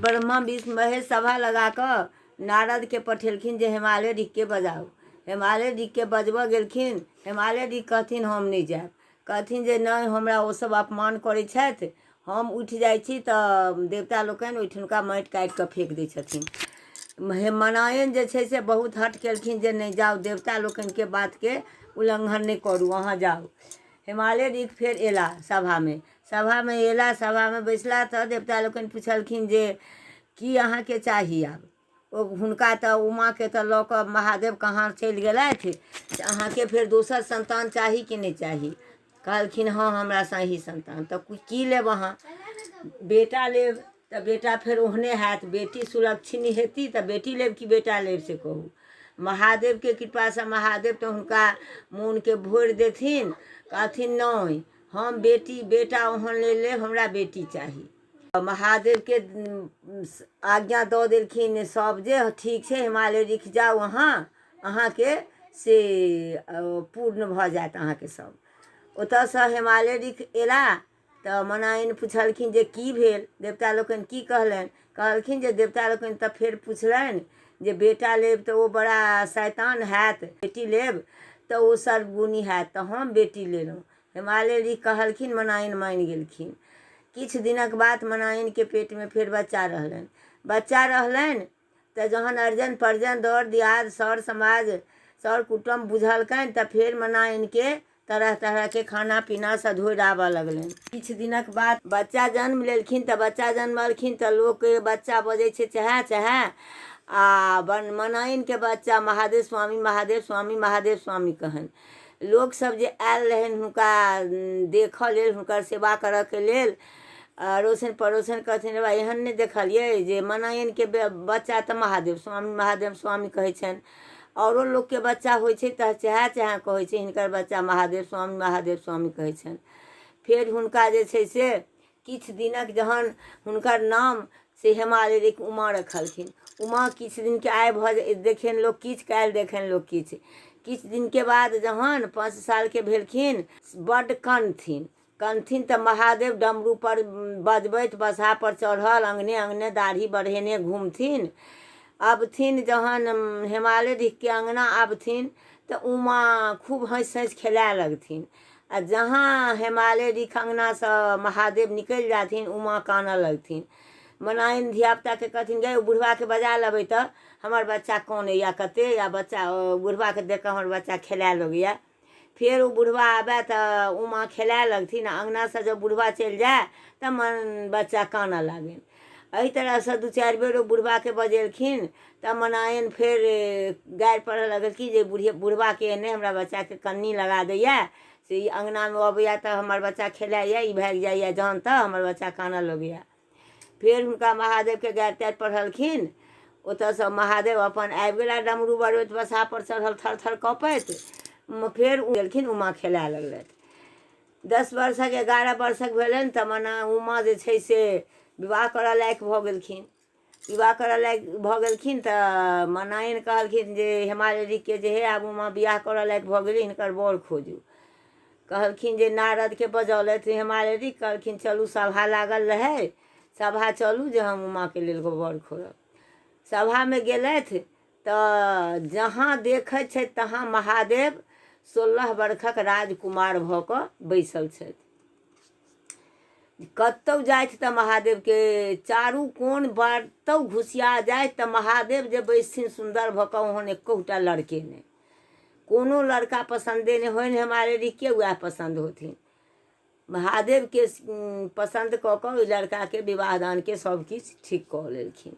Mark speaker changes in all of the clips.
Speaker 1: ब्रह्मा विष्णु महेश सभा लगा कऽ नारद के पठेलखिन जे हिमालय ऋख के बजाउ हिमालय ऋख के बजबऽ गेलखिन हिमालय ऋख कहथिन हम नहि जायब कहथिन जे नहि हमरा ओ सब अपमान करै छथि हम उठि जाइ छी तऽ देवता लोकनि ओहिठुनका माटि काटि कऽ फेक दै छथिन हे मनायन जे छै से बहुत हट केलखिन जे नहि जाउ देवता लोकनि के बात के उल्लंघन नहि करू अहाँ जाउ हेमाले रीत फेर एला सभामे सभामे एला सभामे बैसला तऽ देवता लोकनि पुछलखिन जे की अहाँके चाही आब ओ हुनका तऽ उमाके तऽ लऽ कऽ महादेव कहाँ चलि गेलथि से अहाँके फेर दोसर संतान चाही कि नहि चाही कहलखिन हँ हमरा सही संतान तऽ की लेब अहाँ बेटा लेब तऽ बेटा फेर ओहने हैत बेटी सुलक्षिणी हेती तऽ बेटी लेब कि बेटा लेब से कहू महादेवके कृपासँ महादेव तऽ हुनका मोनके भोरि देथिन कहथिन नहि हम बेटी बेटा ओहन ले लेब हमरा बेटी चाही महादेवके आज्ञा दऽ देलखिन सभ जे ठीक छै हिमालय रिख जाउ अहाँ अहाँके से पूर्ण भऽ जायत अहाँके सभ ओतयसँ हिमालय रिख एला तऽ मनाइन पुछलखिन जे की भेल देवता लोकनि की कहलनि कहलखिन जे देवता लोकनि तऽ फेर पुछलनि जे बेटा लेब तऽ ओ बड़ा शैतान हैत बेटी लेब तऽ ओ सर्वगुणी हैत तऽ हम बेटी लेलहुँ हिमालय जी कहलखिन मनाइन मानि गेलखिन किछु दिनक बाद मनाइनके पेटमे फेर बच्चा रहलनि बच्चा रहलनि तऽ जहन अर्जन पर्जन दर दियाद सर समाज सर कुटुम बुझलकनि तऽ फेर मना इनके तरह तरह के खाना पीना सधोरि आबऽ लगलनि किछु दिनक बाद बच्चा जन्म लेलखिन तऽ बच्चा जन्मलखिन तऽ लोक के बच्चा बजै छै चहे चहे आ मनाइन के बच्चा महादेव स्वामी महादेव स्वामी महादेव स्वामी कहन लोक सब जे आयल रहनि हुनका देखऽ लेल हुनकर सेवा करऽ के लेल अड़ोसन पड़ोसन कहथिन रे बा एहन नहि देखलियै जे मनायनके बे- बच्चा तऽ महादेव स्वामी महादेव स्वामी कहै छनि आओरो लोकके बच्चा होइ छै तऽ चेहा चेहा कहै छै हिनकर बच्चा महादेव स्वामी महादेव स्वामी कहै छनि फेर हुनका जे छै से किछु दिनक जहन हुनकर नाम से हेमा देवीक उमा रखलखिन उमा किछु दिनके आइ भऽ जे- देखनि लोक किछु काल्हि देखनि लोक किछु किछु दिनके बाद जहन पाँच सालके भेलखिन बड्ड कनथिन कनथिन तँ महादेव डमरूपर बजबैत बसहापर चढ़ल अँगने अँगने दाढ़ी बढ़ेने घुमथिन अबथिन जहन हेमाले ढिकके अँगना आबथिन तऽ उमा खूब हँसि हँसि खेलाए लगथिन आ जहाँ हेमाले ढिक अँगनासँ महादेव निकलि जाथिन उमा कानऽ लगथिन मनाइन धियापुताके कहथिन गै ओ बुढ़बाके बजा लेबै तऽ हमर बच्चा कनैए कते या बच्चा बुढ़बाके देख कऽ हमर बच्चा खेलाए लगैए फेर ओ बुढ़वा आबय तऽ उमा खेलाय लगथिन आ अङ्गनासँ जब बुढ़वा चलि जाय तऽ मन बच्चा कानऽ लागनि एहि तरहसँ दू चारि बेर ओ बुढ़वाके बजेलखिन तऽ मनायन फेर गारि पढ़ऽ लगलखिन जे बुढ़िया बुढ़वाके एहने हमरा बच्चाके कन्नी लगा दैए से ई अङ्गनामे अबैए तऽ हमर बच्चा खेलाइए ई भागि जाइए जहन तऽ हमर बच्चा कानऽ लगैए फेर हुनका महादेवके गारि तारि पढ़लखिन ओतऽसँ महादेव अपन आबि गेला डमरू बरबैत बसापर चढ़ल थर थर कपैत फेर उ गेलखिन उमा खेलाए लगलथि दस वर्षक एगारह वर्षक भेलनि तऽ मने उमा जे छै से विवाह करऽ लायक भऽ गेलखिन विवाह करऽ लायक भऽ गेलखिन तऽ मनायन कहलखिन जे हेमालिनीके जे हे आब उमा विवाह करऽ लायक भऽ गेली हिनकर बर खोजू कहलखिन जे नारदके बजौलथि हिमालयजी कहलखिन चलू सभा लागल रहै सभा चलू जे हम उमाके लेल गोबर खोड़ब सभामे गेलथि तऽ जहाँ देखै छथि तहाँ महादेव सोलह वर्षक राजकुमार भऽ कऽ बैसल छथि कतहु जाथि तऽ महादेवके चारू कोन बतहु घुसिया जाथि तऽ महादेव जे बैसथिन सुन्दर भऽ कऽ ओहन एकहुटा लड़के नहि कोनो लड़का पसंदे नहीं होइन हमारे रिके वह पसंद होथिन महादेव के उम, पसंद कऽ कऽ ओहि लड़का के विवाह दान के सब किछु ठीक कऽ लेलखिन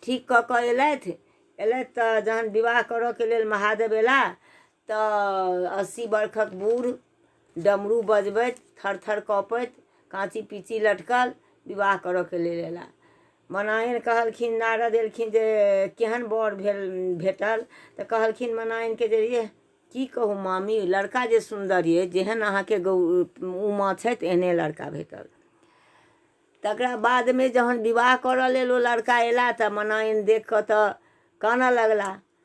Speaker 1: ठीक कऽ कऽ एलथि एलथि तऽ जहन विवाह करऽ के लेल महादेव एला तऽ अस्सी बरखक बूढ़ डमरू बजबैत थर थर कपैत काँची पीची लटकल विवाह करऽ के लेल एला मनाइन कहलखिन नारद एलखिन जे केहन बर भेल भेटल तऽ कहलखिन मनाइनके जे ये की कहू मामी लड़का जे सुन्दर ये जेहन अहाँके गौ उमा छथि एहने लड़का भेटल तकरा बादमे जहन विवाह करऽ लेल ओ लड़का एला तऽ मनाइन देख कऽ तऽ कानऽ लगला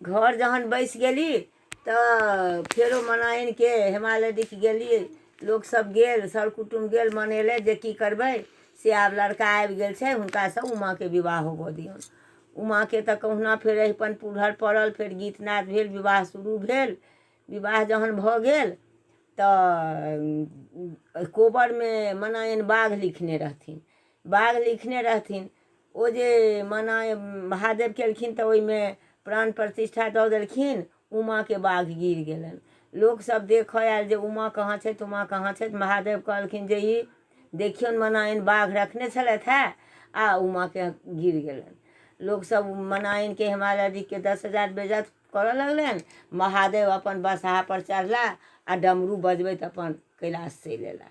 Speaker 1: घर जहन बैसि गेली तऽ फेरो मनाइनके हिमालय दिख गेली लोकसभ गेल सर कुटुम गेल मनेले जे की करबै से आब लड़का आबि गेल छै हुनकासँ उमाके विवाह होबऽ दियौन उमाके तऽ कहुना फेर अहिपन पुरहर पड़ल फेर गीत नाद भेल विवाह शुरू भेल विवाह जहन भऽ गेल तऽ कोबरमे मनायन बाघ लिखने रहथिन बाग लिखने रहथिन ओ जे मना महादेव केलखिन तऽ ओहिमे प्राण प्रतिष्ठा दऽ देलखिन उमाके बाघ गिर गेलनि लोकसभ देखऽ आयल जे उमा कहाँ छथि उमा कहाँ छथि महादेव कहलखिन जे ई देखियौन मनायन बाघ रखने छलथि हे आ उमाके गिर गेलनि लोकसभ मनायनके हिमालय जीके दस हजार बेजत करऽ लगलनि महादेव अपन बसहापर चढ़ला आ डमरू बजबैत अपन कैलाश चलि अयला